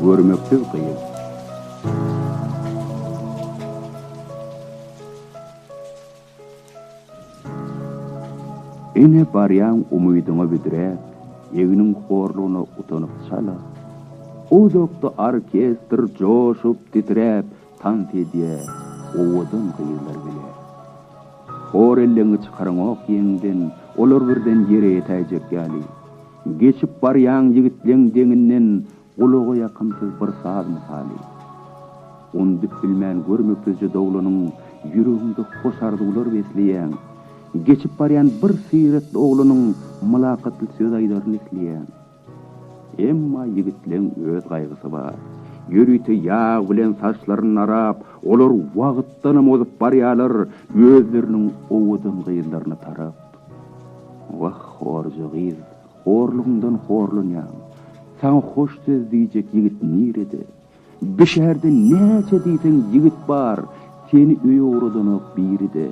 Görmeksiz gyz. Ine barýaň umydyňa büdräp, egniň horlugyna utanyp çala. Uzakda orkestr joşup-titräp, Tansedýä owadan gyzlar bile. Hor elleňi çykaraňok ýeňden, Olar birden ýere ýetäýjek ýaly. Geçip barýaň ýigitleň deňinden, Gulaga ýakymsyz bir saz mysaly. Undyp bilmen görmeksizje doglanyň, Ýüregiňde hoş arzuwlar besleýäň. Geçip barýan bir syratly oglanyň, Mylakatly söz aýdaryn isleýäň. Emma ýigitleň öz gaýgysy bar. Ýörite ýag bilen saçlaryny narap, olar wagtdanam ozup barýarlar, özleriniň owadan gyzlaryna tarap. Wah, horja gyz, horlugyňdan horlanýaň. Saňa hoş söz diýjek ýigit nirede? Bi şäherde näçe diýseň ýigit bar, seni öýe ugradanok biri-de.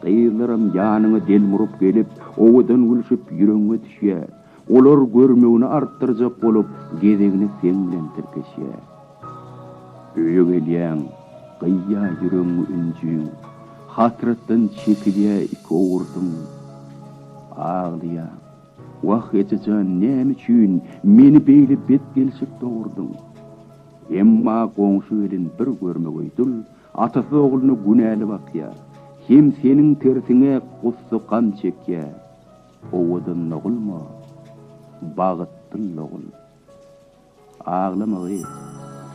Gyzlaram ýanyňa delmuryp gelip, owadan gülşüp ýüregiňe düşýär. Olar görmegini artdyrjak bolup, gezegine seň bilen tirkeşýär. Öýe gelýäň, gyýýar ýüregiňi ünjüň, hasratdan çekilýär iki owurdyň. Aglaýaň, Wah, eje jan, näme üçin meni beýle bet gelşek dogurdyň? Emma goňşy gelin bir görmegeý dul atasy ogluna günäli bakýar, hem seniň tersiňe gussa-gam çekýär. Owadan dogulma, bagytdyl dogul. Aglamagy,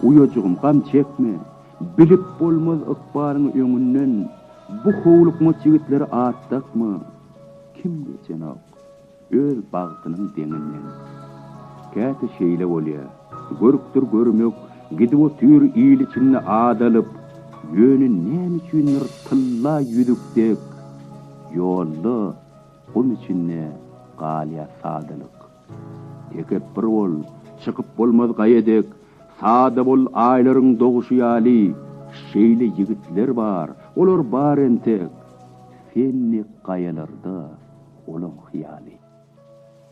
uýajygym, gam çekme, bilip bolmaz ykbalyň öňünden, bu howlukmaç ýigitleri at dakma, kim geçenok, öz bagtynyň deňinden. Käte şeýle bolýar, görkdir görmek, gidip otyr il içinde at alyp, ýöne näme üçindir tylla ýüzük dek, ýolda Gum içinde galýa sadalyk. Tekepbir bol, çykyp bolmaz gaýa dek, Sada bol aýlaryň doguşy ýaly, Şeýle ýigitler bar, olar bar entek, Sen dek gaýalarda olaň hyýaly.